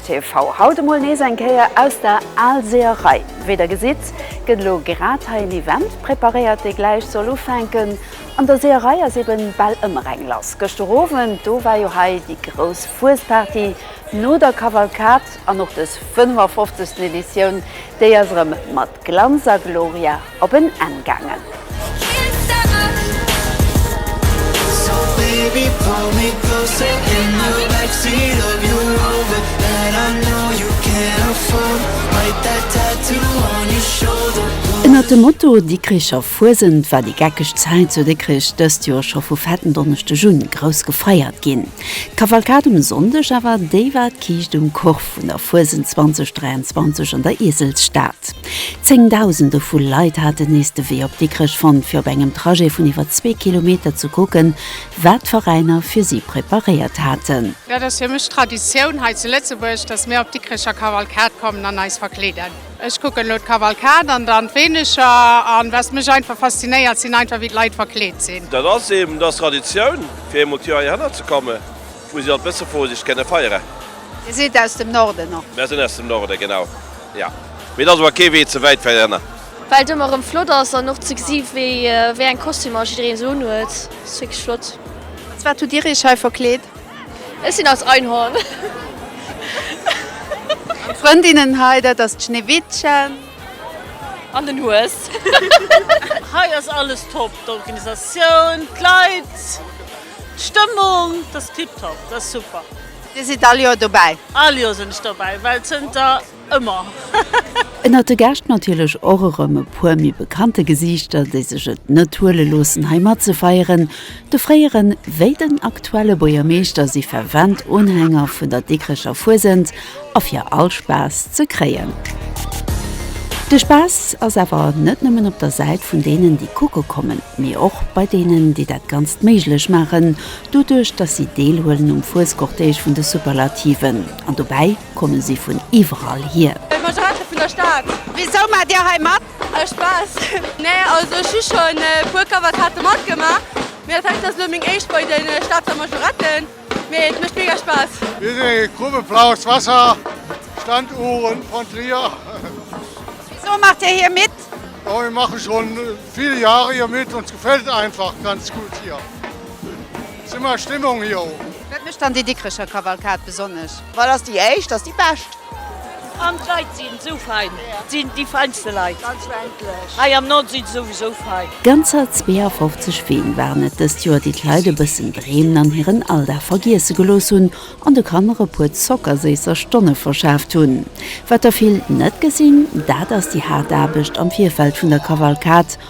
TV, haut emol nees eng Kéier aus der Aalseerei. Wéi der gesitt, gëtt elo grad hei en Event preparéiert, dee gläich soll ufänken. An der Seerei ass eben bal ëmmer eng lass. Gëschter Owend, do war jo hei déi grouss Fuesparty no der Kavalkad. An och dës 55. Editioun, déi ass erëm mat Glanz a Gloria op en Enn gaangen. Ënnert dem Motto Dikricher Fuesent war déi geckeg Zäit zu Dikrich dëst Joer scho vu fetten Donneschdeg un grouss gefeiert ginn. D'Kavalkad um Sonndeg awer, déi war d'Kiischt um Korf vun der Fuesent 2023 an der Ieselsstad. Zéngdausende vu Leit haten nees de Wee op Dikrech fonnt, fir op engem Trajet vun iwwer zwee Kilometer ze kucken, wat d'Veräiner fir si preparéiert haten. Dat ass fir mech Traditioun hei zu Lëtzebuerg, dass mir op d'Dikrecher Kavalkad kommen an eis verkleeden. Ech kucken elo d'Kavalkad an dann d'Weenecher an was mech einfach faszinéiert, sinn einfach wéi d'Leit verkleet sinn. Dat ass eben, dass Traditioun, fir eemol d'Joer heihinner ze kommen. Wou si all d'Bësse Vorsicht kënne feiere. Dir sidd aus dem Norden, och? Mär sinn aus dem Norde, genau, jo. Mee et ass ower kee Wee ze wäit fir ënner. Well et ëmmer erëm flott ass an och ze gesi wéi eng Kostümer jiddereen esou unhuet. Et ass wierklech flott. Als wat hutt Dir Iech hei verkleet? Ech sinn als Einhorn. An d'Frëndinnen hei, dat ass d'Schneewittchen. An den Hues. Hei ass alles top, d'Organisatioun, d'Leit. D'Stëmmung ass tiptop, dat ass super! Dir sidd all Joer dobäi? All Joer sinn ech dobäi, well zënter ëmmer! Ënnert de Gäscht natierlech och erëm e puer méi bekannte Gesiichter, déi sech et net huele loossen hei matzefeieren. De fréiere wéi den aktuelle Buergermeeschter si fervent Unhänger vun der Dikrecher Fuesent. A fir all Spaass ze kréien. De Spaass ass awer net nëmmen op der Säit vun deenen, déi kucke kommen, mee och bei deenen, déi dat Ganzt méiglech maachen, doduerch datt si deelhuelen um Fuescortège vun de Superlativen. An dobäi komme si vun iwwerall hier. Ech mach Reste vun der Stad. Wisou maacht Dir hei mat? Aus Spaass. Nee, also ech hu schonn e puer Cavalcadë matgemaach, mee dat hei ass elo meng éischt bei de Stater Majoretten. Mee et mécht mega Spaass! Mir sinn eng Grupp e Blaues Wasser, Stand Ouren von Trier. Wisou maacht Dir hir mit? Oh mir machen schon vill Jahre hier mit, ons gefällt et einfach ganz gutt hier. Summer Stimmung hier. Wat mécht dann déi Dikrecher Kavalkad besonnesch? Wat ass déi éischt ass déi bescht. An d'Leit sinn sou fein. Sinn déi feinste Leit. Ganz frendlech. Hei am Nord sinn se souwisou fein. Ganzer 52 Ween waren et dëst Joer, déi d'Leit e bëssen dreemen an hiren Alldag vergiesse gelooss hunn an de Kanner e puer zockerséisser Stonne verschaaft hunn. Wat der vill net gesinn, dat ass déi haart Aarbecht am Virfeld vun der Kavalkad.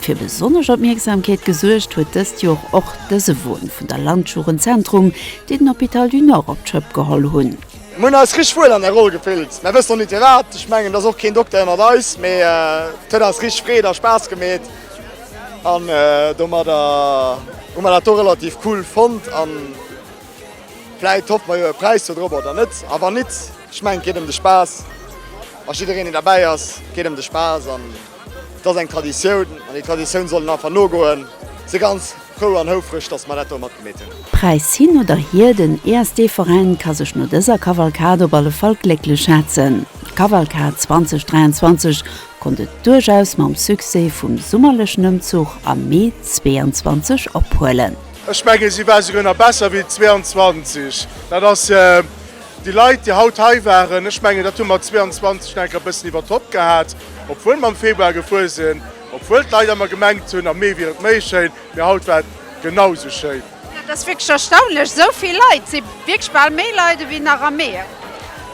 Fir besonnesch Opmierksamkeet gesuergt huet dëst Joer och dëse Won vun der Landjugendzentrum, déi den Hôpital du Nord op d'Schëpp geholl hunn. Mir hunn eis richteg wuel an der Roll gefillt, mä wësst och net firwat. Ech mengen et ass och keen Dokter ënnert eis, mä et huet eis richteg Freed a Spaass gemeet an domadder hu mer dat do relativ cool fonnt. A vläit hoffe mer jo e Präis dodrop oder net. A wann nit, ech mengen et geet ëm de Spaass a jiddereen deen derbäi ass, et geet ëm de Spaass. Et ass eng Traditioun an déi Traditioun soll een einfach nogoen. Si ganz frou an houfreg, dass mer dat do matgemeet hunn. Präis hin oder hier, den ESD-Veräin ka sech no dëser Kavalkad op alle Fall glécklech schätzen. D'Kavalkad 2023 konnt et duerchaus mam Succès vum summerlechen Ëmzuch am Mee 22 ophuelen. Ech mengen, si war souguer nach besser wéi 22. Dat ass déi Leit, déi haut hei waren, ech mengen, dat hu mer 22 nach eng Kéier e bëssen iwwer d'Topp gehat. Obwuel mer am Februar gefuer sinn, obwuel d'Leit emmer gemengt hunn am Mee wier et méi schéin, mee haut war et genau sou schéin. Dat ass wierklech erstaunlech, sou vill Leit. Et si wierklech bal méi Leit ewéi nach am Mee.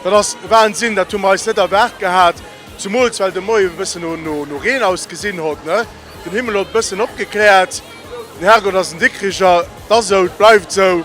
Dat ass Wahnsinn, dat hu mer eis net erwaart gehat, zumools well de Moien e bëssen no Reen ausgesinn hott. Den Himmel hott e bëssen opgekläert. Den Herrgott ass en Dikkricher, 't ass sou, 't bleift sou.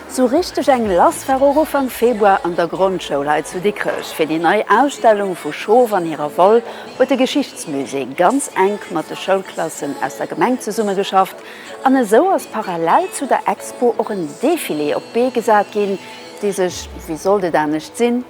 Sou richteg eng lass war och Ufank Februar an der Grondschoul hei zu Dikrech. Fir déi nei Ausstellung vu Schof an hirer Woll huet de Geschichtsmusée ganz enk mat de Schoulklassen aus der Gemeng zesummegeschafft an esou ass parallel zu der Expo och en Defilé op d'Bee gesat ginn, dee sech, wéi sollt et anescht sinn,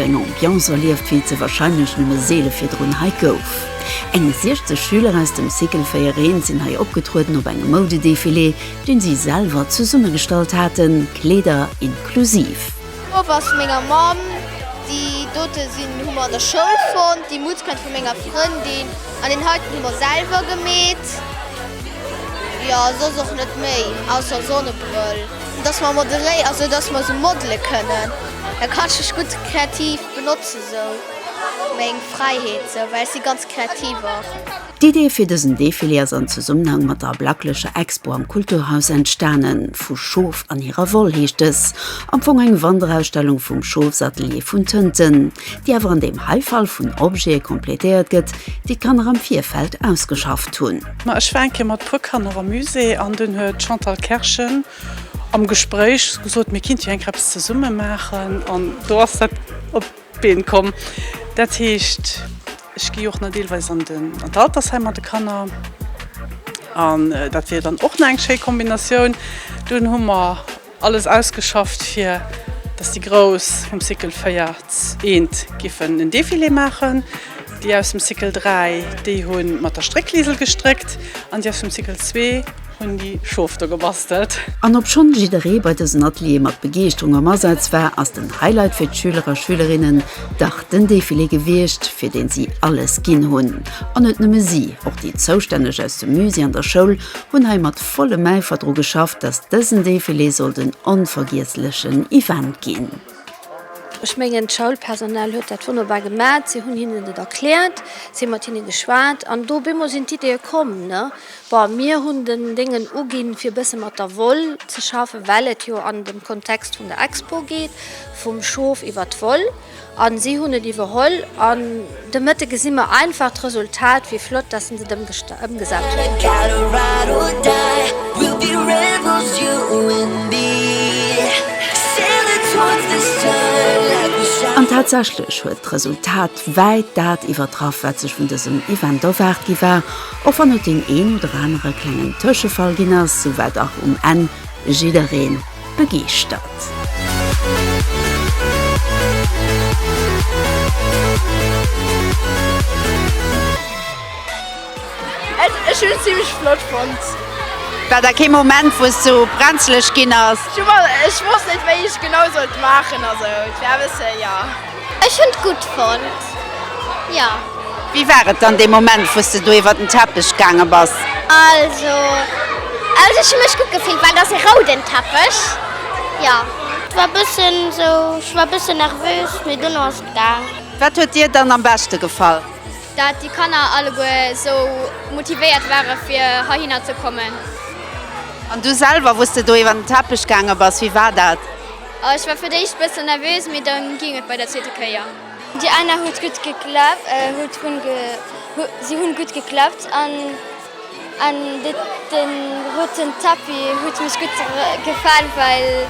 Eng Ambiance erlieft, wéi et se warscheinlech nëmme seele virdrun hei gouf. Eng 60 Schüler aus dem Cycle 4 Reen sinn hei opgetrueden op engem Moudedefilé, deen si selwer zesummegestallt haten, Kleeder inklusiv. D'Mupp ass vu menger Mamm. Déi dote sinn hu mer an der Schoul fonnt. Déi Mutz kënnt vu menger Frëndin. An deen heiten hu mer selwer gemeet, jo soss och net méi, ausser Sonnebrëll. Dass mer moderéi, also dass mer sou modele kënnen, da kann ech mech gutt kreativ benotze sou, meng Fräiheet sou, well ech si ganz kreativ och. D'Idee fir dësen Defilé ass an Zesummenhang mat der Blacklecher Expo am Kulturhaus entstanen. Vu Schof an hirer Woll heescht dës am Fong eng Wanderausstellung vum Schofsatelier vun Tënten. déi awer an deem hei Fall vun Objete complétéiert gëtt, déi d'Kanner am Virfeld ausgeschafft hunn. Ma ech war eng Kéier mat e puer Kanner am Musée an dunn huet d'Chantal Kerschen am Gespréich gesot, mir kinnte jo enker eppes zesumme maachen an do ass dat op d'Been komm. Dat heescht, ech gi jo och nach deelweis an d'Altersheim mat de Kanner an dat wier dann och nach eng schéi Kombinatioun. Dunn hu mer. Alles ausgeschafft fir dass déi Grouss vum Cycle 4 z'eent giffen en Defilé maachen. Déi aus dem Cycle 3 déi hu mat der Stréckliesel gestréckt an déi aus dem Cycle 2 hunn déi Schof do gebastelt. An obschonn jidderee bei dësen Ateliere mat Begeeschterung am Asaz war, ass den Highlight fir d'Schüler a Schülerinnen dach den Defilé gewiescht, fir deen si alles ginn hunn. An net nëmme si, och déi Zoustänneg aus dem Musée an der Schoul hunn hei mat Vollem Äifer dru geschafft, dass dësen Defilé sollt en onvergiesslechen Event ginn. Ech mengen, d'Schoulpersonal huet dat wonnerbar gemat. Si hunn hinnen et erkläert, si hu mat hinne geschwat an do op eemol sinn d'Ideeë komm. Bon, mir hunn den Déngen uginn, fir e bësse mat der Woll ze schaffen, well et jo an dem Kontext vun der Expo geet, vum Schof iwwer d'Woll. A si hunn et iwwerholl an de Mëtte gesi mer einfach d'Resultat. Wéi flott, dass en se ëmgesat huet. An tatsächlech huet d'Resultat wäit dat iwwertraff, wat sech vun dësem Event erwaart gi war, och wann et deen een oder anere klengen Tëschefall ginn ass, souwat dach um Enn jiddereen begeeschtert. Ech hun et zimmlech flott fonnt. War da kee Moment wou s du brenzlech ginn ass? Ech wosst net wéi ech genau sollt maachen, also et war e bësse jo. Ech hunn et gutt fonnt, jo. Wéi war et dann dee Moment, wou s de do iwwer den Teppech gaange bass? Also, also ech hu mech gutt gefillt, well et ass e rouden Teppech, jo. Et war e bëssen esou, ech war e bëssen nervös, mee dono ass et gaang. Wat huet dir dann am beschte gefall? Dat déi Kanner alleguer esou motivéiert ware fir heihinner ze kommen. An du selwer, wou s de do iwwer den Teppech gaange bass, wéi war dat? Ech war fir d'éischt bëssen nervös, mee dann ging et bei der zweeter Kéier. Déi Anna huet gutt geklappt, huet run ge, si hunn gutt geklappt an an den roten Tapis huet mech gutt gefall well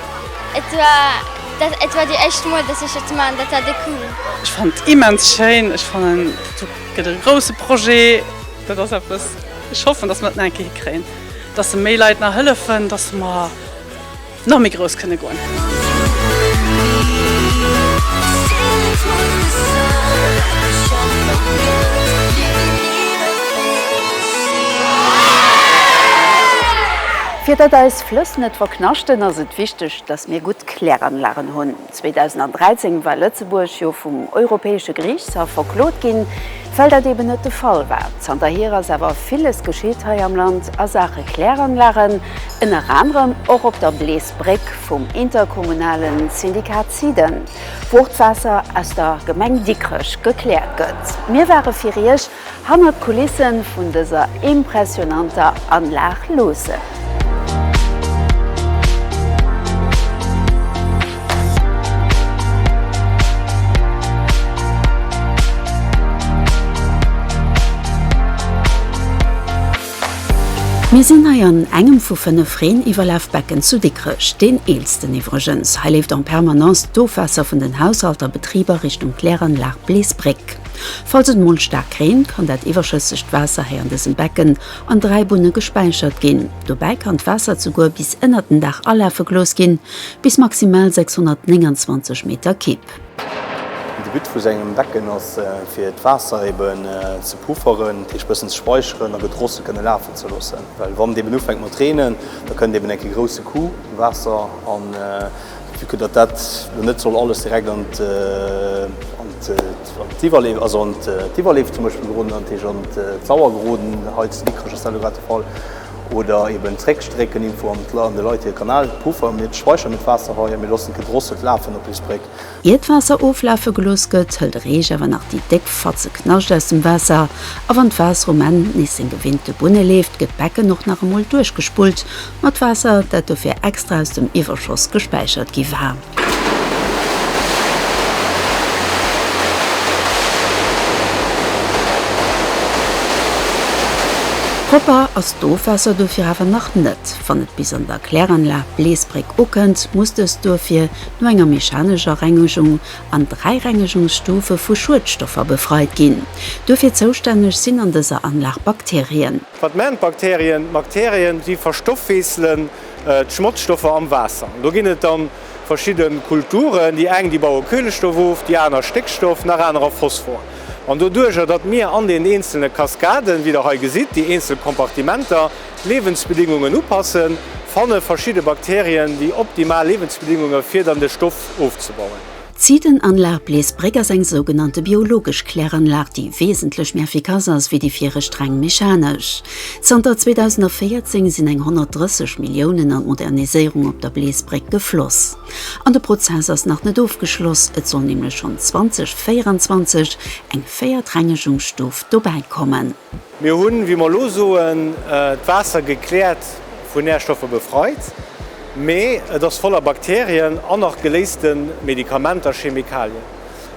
et war dat et war déi éischt mol dass ech et man, dat war déi cool. Ech fannen et immens schéin, ech fannen et gëtt e grousse Projet, dat ass eppes, ech hoffen dass mer et nach eng Kéier hikréien, dass se méi Leit nach hëllefen, dass mer. Nach méi grouss kënne goen. Fir datt eis Flëss net verknaschten, ass et wichteg, datt mir gutt Kläranlagen hunn. 2013 war Lëtzebuerg jo vum Europäesche Geriichtshaff verklot ginn, well dat eben net de Fall war. Zanterhier ass awer villes geschitt hei am Land a Saache Kläranlagen, ënner anerem och op der Bleesbréck vum interkommunale Syndikat SIDEN, wou och d'Waasser aus der Gemeng Dikrech gekläert gëtt. Mir ware fir Iech Hannert d'Kulissen vun dëser impressionanter Anlag loossen. Mir sinn hei an engem vu 5 Reen-Iwwerlafbecken zu Dikrech, deen eelsten iwwregens. Hei leeft en permanence d'Ofwaasser vun den Haushalter, Betriber Richtung Kläranlag Bleesbréck. Falls et mol staark reent, kann dat iwwerschëssegt Waasser hei an dësem Becken an 3 Bunne gespäichert ginn. Dobäi kann d'Waasser zuguer bis ënnert den Daach alafe gelooss ginn, bis maximal 629 Meter Kibb. De But vu sou engem Becken ass fir d'Waasser eben ze pufferen, dat heescht bëssen ze späicheren a gutt drosse kënne lafen ze loossen, well wann et eben ufänkt mat reenen, da kënnt eben eng Kéier grousse Coup Waasser an. Vu que datt dat elo net soll alles direkt an d'Iwwerleef, also an d'Iwwerleef zum Beispill geroden, an d'Heesch an d'Sauer geroden, hei zu Dikrech ass dat elo grad de Fall, oder eeben zréckstrécken irgendwou an de Leit hir Kanal, Puffer, mir speichern net d'Waasser hei a mir loossen d'Gedrosselt lafen op eis Bréck. Ier d'Waasser oflafe gelooss gëtt, hëlt de Reech awer nach déi déck Fatze Knascht aus dem Waasser, a wann d'Waasser um Enn nees seng gewinnte Bunne leeft, gëtt d'Becken och nach emol duerchgespullt, Mat Waasser, dat dofir extra aus dem Iwwerschoss gespäichert gi war. Propper ass d'Ofwaasser dofir awer nach net. Wann et bis an der Kläranlag Bleesbréck ukënnt, muss dëst duerfir no enger mechanescher Rengegung an dräi Rengegungsstufe vu Schuedstoffer befreit ginn. Duerfir zoustänneg sinn an dëser Anlag Bakterien. Wat maachen d'Bakterien? D'Bakterien si verstoffweesselen d'Schmotzstoffer am Waasser. Do ginn et dann verschidde Kulturen, déi eng déi baue Kuelestoff of, déi aner Stéckstoff, nach anerer Phosphor. An doduerjer datt mir an den eenzele Kaskaden, wéi der hei gesitt, déi eenzel Kompartimenter, d'Liewensbedingungen upassen, fanne verschidde Bakterien déi optimal Liewensbedingunge fir dann de Stoff ofzebauen. D'Ziidenanlag Bleesbréck ass eng sougenannte biologesch Kläranlag, déi wesentlech méi effikass ass wéi déi viregt streng mechanesch. Zanter 2014 sinn eng 130 Milliounen an d'Moderniséierung op der Bleesbréck gefloss. An de Prozess ass nach net ofgeschloss, et soll nämlech schonn 2024 eng véiert Rengegungsstuf dobäikommen. Mir hunn, wéi mer elo soen, d'Waasser gekläert, vu Nährstoffe befreit, mee et ass voller Bakterien an nach geléiste Medikamenter, Chemikalien.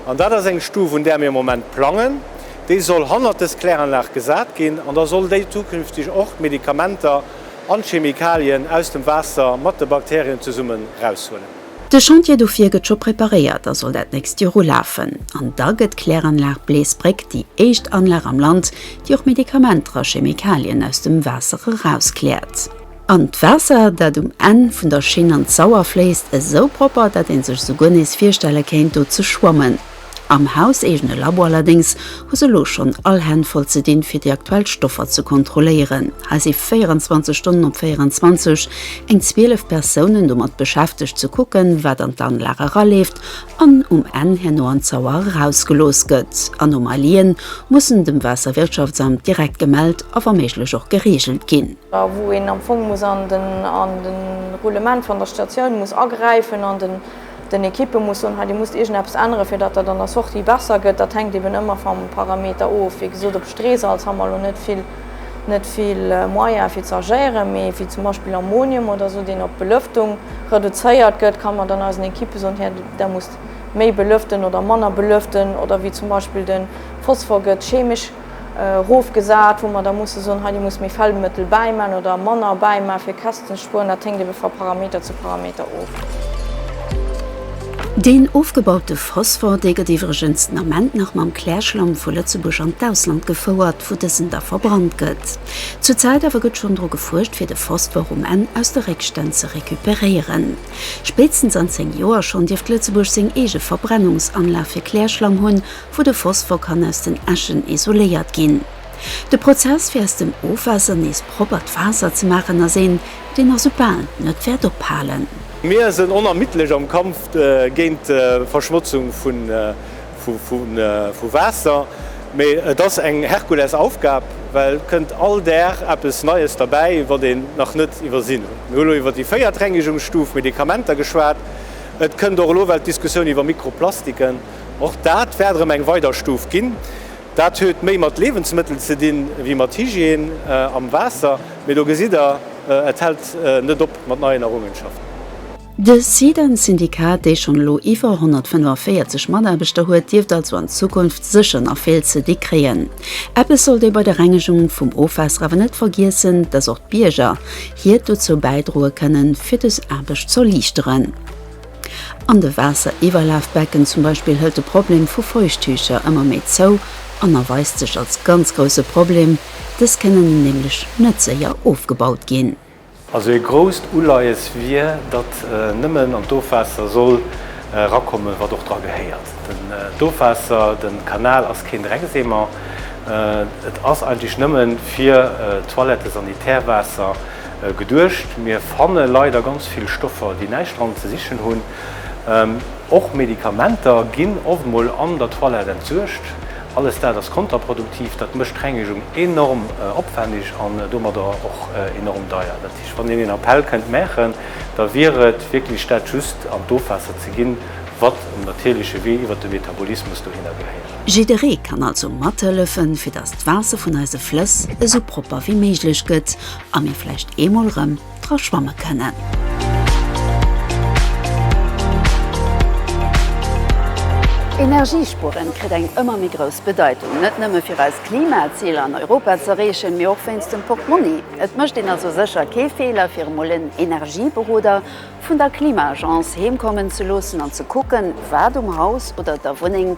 An dat ass eng Stuf, un där mir am Moment plangen. Déi soll hannert dës Kläranlag gesat ginn an da soll déi zukünfteg och d'Medikamenter an d'Chemikalien aus dem Waasser mat de Bakterien zesummen eraushuelen. De Chantier dofir gëtt scho preparéiert a soll dat nächst Joer ulafen. An da gëtt d'Kläranlag Bleesbréck déi éischt Anlag am Land, déi och Medikamenter a Chemikalien aus dem Waasser erauskläert. An d'Waasser, dat um Enn vun der Schinn an d'Sauer fléisst, esou propper, dat ee sech souguer nees virstelle kéint, do ze schwammen. Am hauseegene Labo allerdéngs hu se elo schonn all Hänn voll ze dinn, fir déi aktuell Stoffer ze kontrolléieren. Hei si 24 Stonnen op 24, eng 12 Persounen domat beschäftegt ze kucken, wat an d'Anlag eraleeft an um Enn herno an d'Sauer erausgelooss gëtt. Anomalien mussen dem Waasserwirtschaftsamt direkt gemellt a wa méiglech och gereegelt ginn. A wou een am Fong muss an den Roulement van der Statioun muss agräifen an den. Den Equipe muss soen, hei dir musst iergendeppes änneren, fir datt dat an der Sortie besser gëtt. Dat hänkt eben ëmmer vam Parameter of. Wéi gesot, op Streesalz ha mer elo net vill, net vill Moyen fir ze agéieren, mee wéi zum Beispill Ammonium oder esou, deen op d'Belëftung reduzéiert gëtt, ka mer dann eisen Equipe soen, hei der musst méi belëften oder manner belëften. Oder wéi zum Beispill de Phosphor gëtt chemesch. erofgesat, wou mer da musse soen, hei, Dir musst méi Fellmëttel bäiman oder manner bäiman, fir Kästen ze spueren. Dat hänkt ebe va Parameter zu Parameter of. Deen ofgebaute Phosphor, dee gëtt iwwregens den Ament nach mam Klärschlamm vu Lëtzebuerg an d'Ausland gefouert, wou dësen da verbrannt gëtt. Zur Zäit awer gëtt schonn dru gefuerscht, fir de Phosphor um Enn aus de Réckstänn ze recuperéieren. Spéitstens an 10 Joer schonn dierft Lëtzebuerg seng eege Verbrennungsanlag fir Klärschlamm hunn wou de Phosphor kann aus den Äschen isoléiert ginn. De Prozess fir aus dem Ofwaasser nees proppert Waasser ze maachen ass een, deen a soubal net wäert ophalen. Mir sënn onermiddlech am Kampf géint d'Verschmotzung vu Waasser, mee et ass eng Herkulesaufgab, well et kënnt all Dag eppes Neies derbäi, wat een nach net iwwersinn huet. Mir hu elo iwwer déi véiert Rengegungsstuf, Medikamenter, geschwat. Et kënnt och elo well d'Diskussioun iwwer Mikroplastiken. Och dat wäert erëm eng weider Stuf ginn. Dat huet méi mat Liewensmëttel ze dinn, ewéi mat Hygiène am Waasser. Mee do gesitt Der, et hält net op mat neien Errungenschaften. De SIDEN-Syndikat, dee schonn elo iwwer 145 Mataarbechter huet, dierft also an Zukunft sécher nach vill ze di kréien. Eppes sollt ee bei der Rengegung vum Ofwaasser awer net vergiessen, dass och d'Bierger hiert dozou bäidroe kënnen, fir dës Aarbecht z'erliichteren. An de Waasseriwwerlafbecken zum Beispill hëlt de Problem vu Feuchttücher ëmmer méi zou an erweist sech als ganz grousse Problem, dës kënnen nämlech net séier ofgebaut ginn. Also ee grousst Uleies wier, datt nëmmen an d'Ofwaasser soll erakommen, wat och dra gehéiert. D'Ofwaasser, de Kanal ass keen Dreckseemer, et ass eigentlech nëmmen fir Toilettes-sanitaires-Waasser. Geduecht. Mir fanne leider ganz vill Stoffer, déi näischt dran ze sichen hunn. Och Medikamenter ginn oft mol an der Toilette entsuergt. Alles dat ass kontraproduktiv. Dat mécht d'Rengegung enorm opwänneg an domadder och enorm deier. Dat heescht, wann een een Appell kënnt maachen, da wier et wierklech dat just an d'Ofwaasser ze ginn, wat um natierleche Wee iwwert de Metabolismus dohinner gehéiert. Jidderee kann also mathëllefen, fir datt d'Waasser vun eise Flëss esou propper wéi méiglech gëtt a mir vläicht eemol rëm dra schwamme kënnen. Energiespueren kritt eng ëmmer méi grouss Bedeitung, net nëmme fir eis Klimaziler an Europa ze erreechen, mee och wéinst dem Portmonni. Et mécht een also sécher kee Feeler, fir emol en Energieberoder vun der Klima-Agence heemkommen ze loossen an ze kucken, wat um Haus oder der Wunneng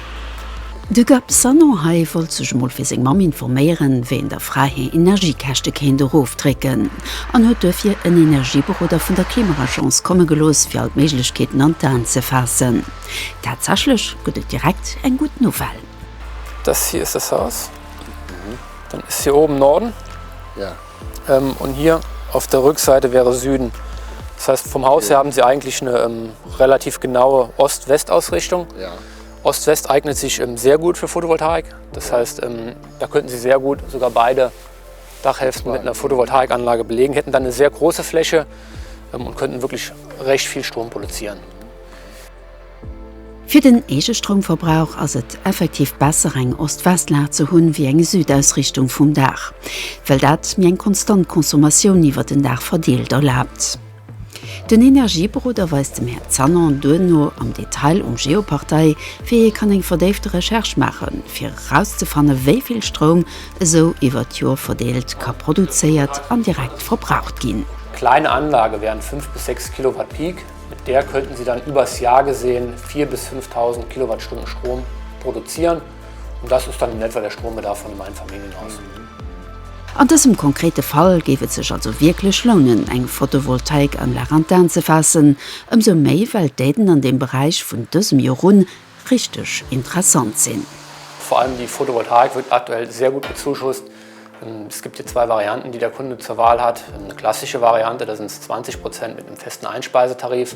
De Gab Sanon hei wollt sech mol fir seng Mamm informéieren, wéi een der Fra hir Energiekäschte kéint erofdrécken an huet duerfir en Energieberoder vun der Klimaagence komme gelooss, fir all d'Méiglechkeeten an d'Aen ze faassen. Tatsächlech gëtt et direkt eng gutt Nouvelle. Dës hir ëss dës Haus, dann ëss hir oben Norden und hier auf der Rückseite wäre Süden. Das heißt, vom Haus her haben sie eigentlich ne relativ genaue Ost-West-Ausrichtung. Ost-West eignet sich sehr gut für Photovoltaik, das heißt, da könnten Sie sehr gut sogar beide Dachhälften mit einer Photovoltaikanlage belegen, hätten dann eine sehr große Fläche und könnten wirklich recht viel Strom produzieren. Fir den Eegestroumverbrauch ass et effektiv besser, eng Ost-West-Lag ze hunn, wéi eng Südausrichtung vum Daach, well dat mir eng konstant Consommatioun iwwer den Daach verdeelt erlaabt. Den Energieberoder weist dem Här Zanon duerno am Detail um Geopartei, wéi ee kann eng verdéifte Recherche maachen, fir erauszefanne wéi vill Stroum esou iwwert d'Joer verdeelt ka produzéiert an direkt verbraucht ginn. Kleine Anlage während 5 bis 6 Kilowatt Peak, mit der könnten Sie dann übers Jahr gesehen 4 bis 5000 Kilowattstunden Strom produzieren. Und das ist dann in etwa der Strombedarf von dem Einfamilienhaus. An dësem konkrete Fall géif et sech also wierklech lounen, eng Photovoltaikanlag an d'An ze faassen, ëmsou méi well d'Aiden an deem Beräich vun dësem Jor un richteg interessant sinn. Vor allem die Photovoltaik wird aktuell sehr gut bezuschusst. Es gibt hier zwei Varianten, die der Kunde zur Wahl hat. Eine klassische Variante, da sind es 20 Prozent mit einem festen Einspeisetarif.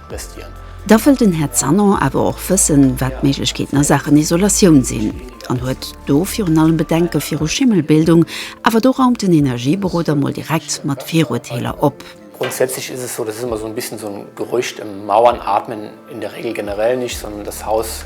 Da wëll den Här Zanon awer och wëssen, wat d'Méiglechkeeten a Saachen Isolatioun sinn an huet do virun allem Bedenke viru Schimmelbildung. Awer do raumt den Energieberoder mol direkt mat Viruerteeler op. Grundsätzlich ist es so, das ist immer so ein bisschen so ein Gerücht, Mauern atmen in der Regel generell nicht, sondern das Haus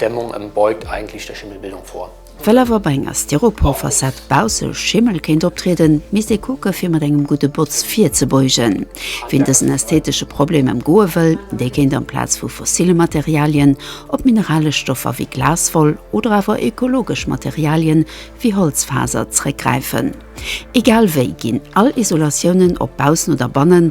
Dämmung en beugt eigentlich der Schimmelbildung vor. Well awer bei enger Styropor-Fassad bausse Schimmel kéint optrieden, misst ee kucke fir mat engem gudde Botz virzebeugen. Wien dësen ästhetesche Problem ëmgoe wëll, dee kéint amplaz vu fossille Materialien op mineralesch Stoffer wéi Glaswoll oder awer ökologesch Materialien wéi Holzfaser zréckgräifen. Egal wéi ginn all Isolatiounen, ob baussen oder bannen,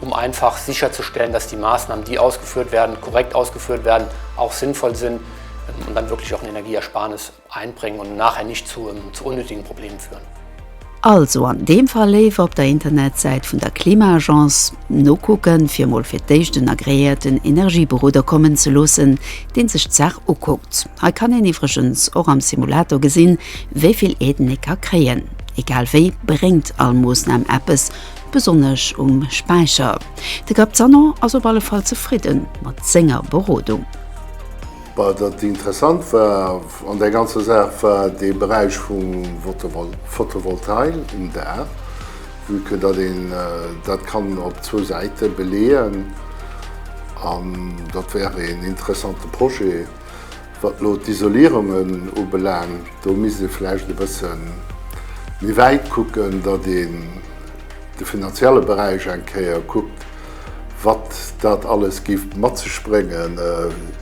um einfach sicherzustellen, dass die Maßnahmen, die ausgeführt werden, korrekt ausgeführt werden, auch sinnvoll sind und dann wirklich auch eine Energieersparnis einbringen und nachher nicht zu unnötigen Problemen führen. Also an deem Fall léiwer op der Internetsäit vun der Klima-Agence nokucken, fir emol fir d'éischt en agreéierten Energieberoder kommen ze loossen, deen sech d'Saach ukuckt. Hei kann een iwwregens och am Simulator gesinn, wéi vill ee d'Nicker kréien. Egal wéi, bréngt all Moosnam eppes, Besonnesch um Späicher. De Gabzano ass op alle Fall zefridden mat senger Berodung. Bah, datt interessant war an der ganzer Saach war dee Beräich vum Photovoltail um Daach, vue que datt een dat kann op zwou Säite beleeën, an datt wär een interessante Projet. Wat elo d'Isolierungen ubelaangt, do misst ee vläicht e bësse méi wäit kucken, datt een de finanzielle Beräich eng Kéier kuckt, wat dat alles géif mat sech bréngen,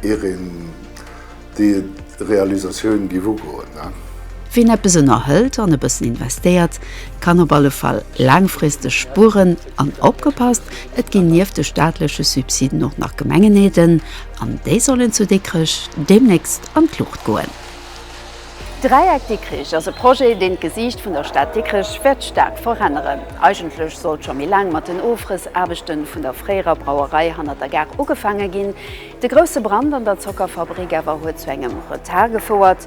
ier een déi Realisatioun géif ugoen. Wien eppes ënnerhëlt an e bëssen investéiert, kann op alle Fall laangfristeg spueren. An opgepasst, et ginn nieft de staatleche Subsiden och nach Gemengenaiden. An déi sollen zu Dikrech deemnächst an d'Luucht goen. D'Dräieck Dikrich ass e Projet, deen d'Gesiicht vun der Stad Dikrech wäert staark veränneren. Eigentlech sollt scho méi laang mat den Ofrëssaarbechten vun der fréierer Brauerei hanner der Gare ugefaange ginn. De grousse Brand an der Zockerfabrik awer huet zu engem Retard gefouert.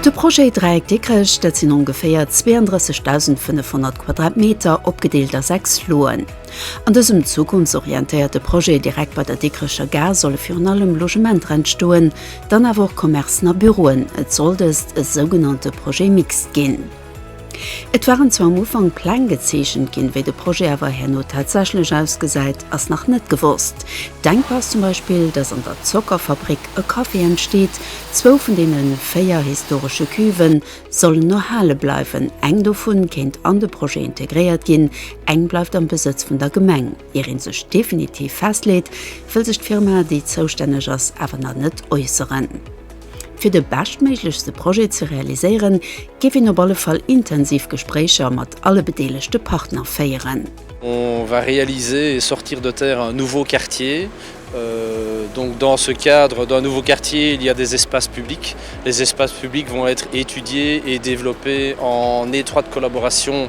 De Projet Dräieck Dikrech, dat sinn ongeféier 32.500 Quadratmeter, opgedeelt a sechs Loen. An dësem zukunftsorientéierte Projet direkt bei der Dikrecher Gare solle virun allem Logementer entstoen, dann awer och Commercen a Büroen. Et soll dëst e sougenannte Projet Mixte ginn. Et waren zwar am Ufank Pläng gezeechent ginn, wéi de Projet awer herno tatsächlech ausgesäit, ass nach net gewosst. Denkbar ass zum Beispill, datt an der Zockerfabrik e Café entsteet. Zwou vun deene véier historesche Cuven sollen erhale bleiwen. Eng dovun kéint an de Projet integréiert ginn, eng bleift am Besëtz vun der Gemeng. Ier ee sech definitiv festleet, wëll sech d'Firma, déi zoustänneg ass, awer nach net äusseren. Fir de beschtméiglechste Projet ze realiséieren, géif een op alle Fall intensiv Gespréicher mat alle bedeelegte Partner féieren. On va réaliser et sortir de terre un nouveau quartier. Donc dans ce cadre d'un nouveau quartier, il y a des espaces publics. Les espaces publics vont être étudiés et développés en étroite collaboration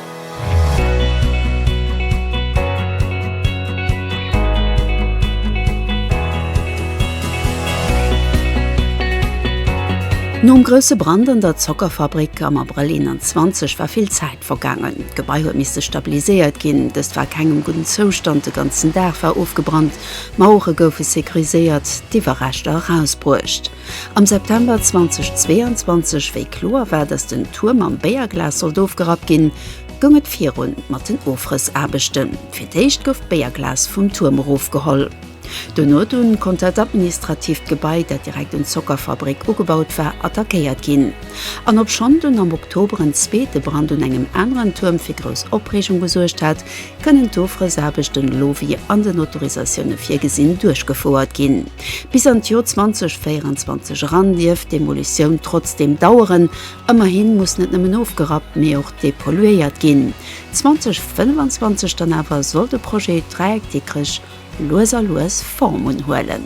Nom grousse Brand an der Zockerfabrik am Abrëll 21 war vill Zäit vergaangen. D'Gebai huet misste stabiliséiert ginn. Dëst war a kengem gudden Zoustand, de ganzen Daach war ofgebrannt, d'Mauere goufe securiséiert, d'Iwwerreschter erausbruecht. Am September 2022, wéi kloer war, datt den Tuer mam Béierglas sollt ofgerappt ginn, goung et virun mat den Ofrëssaarbechten. Fir d'éischt gouf d'Béierglas vum Tuerm erofgeholl. Dono dunn konnt dat administratiivt Gebai, dat direkt un d'Zockerfabrik ugebaut war, attackéiert ginn. An obschonn dunn am Oktober en zweete Brand un engem aneren Tuerm fir grouss Opreegung gesuergt hat, kënnen d'Ofrëssaarbechten elo wéi an den Autorisatioune virgesinn duerchgefouert ginn. Bis an d'Jor 2024 eran dierf d'Demolitioun trotzdeem daueren. Ëmmerhi muss net nëmmen ofgerappt, mee och depolluéiert ginn. 2025 dann awer soll de Projet Dreieck Dikrech lues a lues Form unhuelen.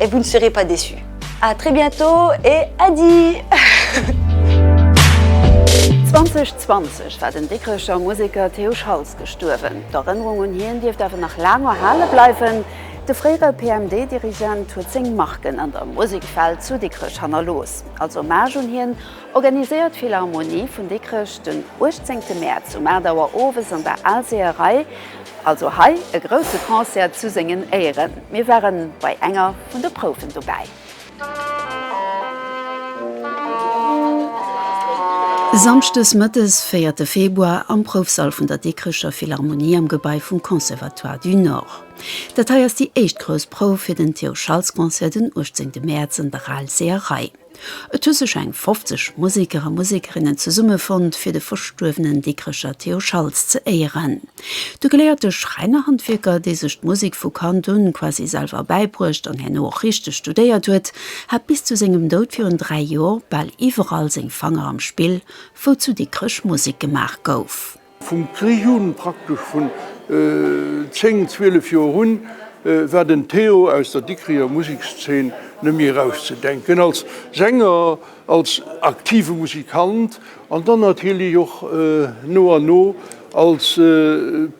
Et vous ne serez pas déçu. A très bientôt et Äddi! 2020 war den Dikrecher Museker Théo Schaltz gestuerwen. D'Erënnerung un hien dierft awer nach laang erhale bleiwen. De fréiere PMD-Dirigent huet seng Marken an der Musekwelt zu Dikrech hannerlooss. Als Hommage un hien Organiséiert d'Philharmonie vun Dikrech den 18 Mäerz um 8 Auer owes an der Aalseeërei also hei e grousse Concert zu sengen Éieren. Mir ware bei enger vun de Prouwen dobäi. Samschdes mëttes, véierte Februar, am Proufsall vun der Dikrecher Philharmonie am Gebai vum Conservatoire du Nord. Dat hei ass déi éischt grouss Prouf fir den Theo Schaltz Concert den 18 Mäerz an der Aalseeërei. Et hu sech eng 50 Museker a Musekerinnen zesumme fonnt fir de verstuerwenen Dikrecher Theo Schaltz ze éieren. De geléierte Schräinerhandwierker, dee sech d'Musek vu Kand un quasi selwer bäibruecht an herno och richteg studéiert huet, hat bis zu sengem Doud virun dräi Joer bal iwwerall seng Fanger am Spill, wou zu Dikrech Musek gemaach gouf. Vum Krich un, praktesch vun 10, 12 Joer un, war den Théo aus der Dikricher Musekszeen net méi erauszedenken. Als Sänger, als aktive Musikant an dann natierlech och no an no als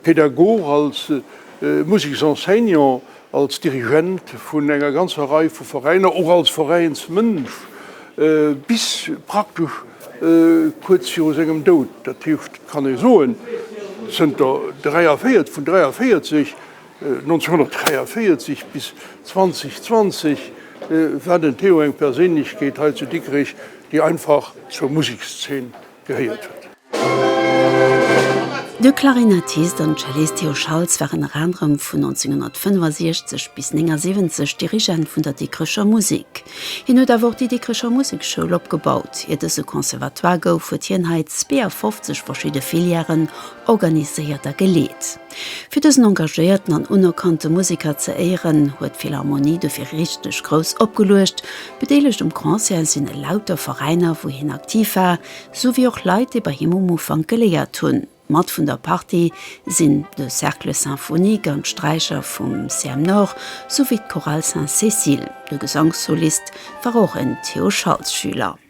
Pedagog, als Museksenseignant Als Dirigent vun enger ganzer Rei vu Veräiner, och als Veräinsmënsch bis praktesch kuerz viru sengem Doud, dat heescht, et kann ee soen, zënter 43, vun 43, 1943 bis 2020, war den Théo eng Perséinlechkeet hei zu Dikrech, déi einfach zur Musekszeen gehéiert huet. De Klarinettist an Cellist Theo Schaltz war ënner anerem vun 1965 bis 79 Dirigent vun der Dikrecher Musek. Hien huet awer och déi Dikrecher Musekschoul opgebaut. Ier dës e Conservatoire gouf, huet hien hei 52 verschidde Filièren organiséiert a geleet. Fir dësen engagéierten an unerkannte Museker ze éieren, huet d'Philharmonie dofir richteg grouss opgeluecht. Bedeelegt um Concert sinn elauter Veräiner, wou hien aktiv war, sou wéi och Leit, déi bei him um Ufank geléiert hunn. Mat vun der Partie sinn de Cercle Symphonique an d'Straicher vum CM-Nord, sou wéi d'Chorale Sainte-Cécile. De Gesangssolist war och en Theo Schaltz-Schüler.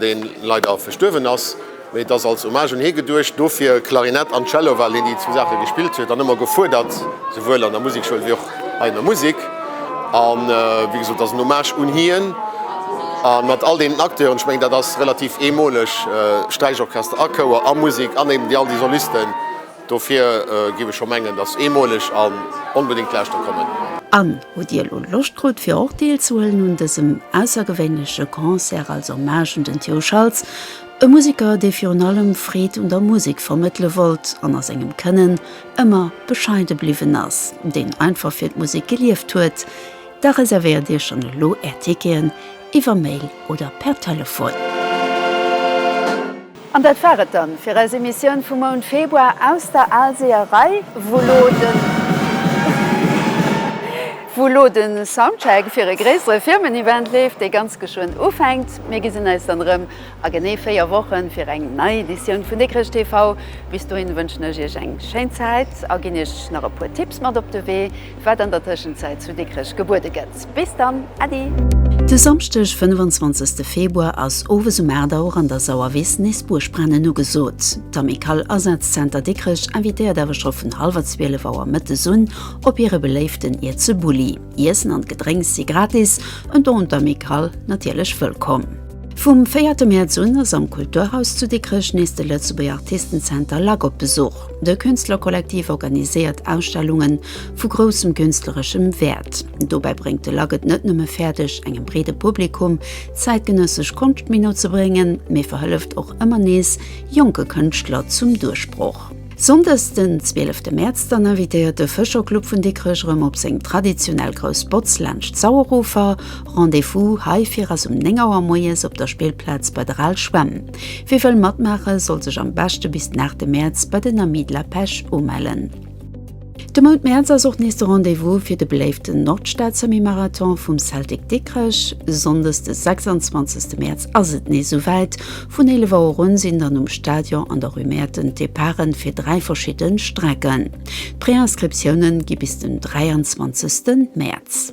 deen leider verstuerwen ass, mee et ass als Hommage un hie geduecht, dofir Klarinett an Cello, well hien déi zwou Saache gespillt huet an ëmmer gefuerdert, souwuel an der Musekschoul ewéi och hei an der Musek. A wéi gesot, et ass en Hommage un hien a mat all deenen Acteuren, ech mengen dat ass relativ eemoleg, Sträichorchester a Chouer a Musek an eben déi all déi Solisten, Dofir giff ech scho mengen, dass eemoleg an onbedéngt lauschter kommen. An hutt Dir elo Loscht krut fir och deelzehuelen un dësem aussergewéinleche Concert als Hommage un den Theo Schaltz, e Museker dee virun allem Freed un der Musek vermëttele wollt an a sengem Kënnen ëmmer bescheide bliwwen ass, deen einfach fir d'Musek gelieft huet? Da reservéiert Iech schonn elo Är Ticketen iwwer Mail oder per Telefon. An dat war et dann fir eis Emissioun vum Mount Februar aus der Aalseeërei, wou lo de Soundcheck fir e gréissere Firmen-Event leeft, dee ganz geschwënn ufänkt. Mir gesinn eis dann erëm a genee 4 Wochen fir eng nei Editioun vun Dikrech TV. Bis dohin wënschen ech iech eng schéin Zäit a ginn iech nach e puer Tipps mat op de Wee. wat an der Tëschenzäit zu Dikrech gebuede gëtt. Bis dann, Äddi! De Samschdeg 25 Februar ass owes um 8 Auer an der Sauerwiss nees Buergbrennen ugesot. D'Amicale Asazenter Dikrech invitéiert awer scho vun hallwer 12 Auer mëttes un op hire beléiften Ierze Bulli. Iessen an Gedrénks si gratis, en Don un d'Amicale natierlech wëllkomm. Vum 4 Mäerz un ass am Kulturhaus zu Dikrech nees de Lëtzebuerger Artistenzenter, lak, op Besuch. De Künstlerkollektiv organiséiert Ausstellunge vu groussem künstlereschem Wäert. Dobäi bréngt de lac et net nëmme fäerdeg, engem breede Publikum zäitgenëssesch Konscht méi no ze bréngen, mee verhëlleft och ëmmer nees jonke Kënschtler zum Duerchbroch. Sonndes den zwielefte Mäerz dann invitéiert de Fëscherclub vun Dikrech erëm op seng traditionell grouss Botz laanscht d'Sauerufer. Rendez-vous heifir ass um 9 Auer moies op der Spillplaz bei der Al Schwämm. Wie wëll matmaachen, soll sech am beschte bis den 8 Mäerz bei den Amis de la Pêche umellen. De Mount Mäerz ass och nees de Rendez-vous fir de beléiften Nordstad-Semi-Marathon vum Celtic Dikrech. Sonndes de 26 Mäerz ass et nees esou wäit. Vun 11 Auer un sinn dann um Stadion an der Rue Mäerten d'Departe fir 3 verschidden Strecken. D'Préinscriptiounen gi bis den 23 Mäerz.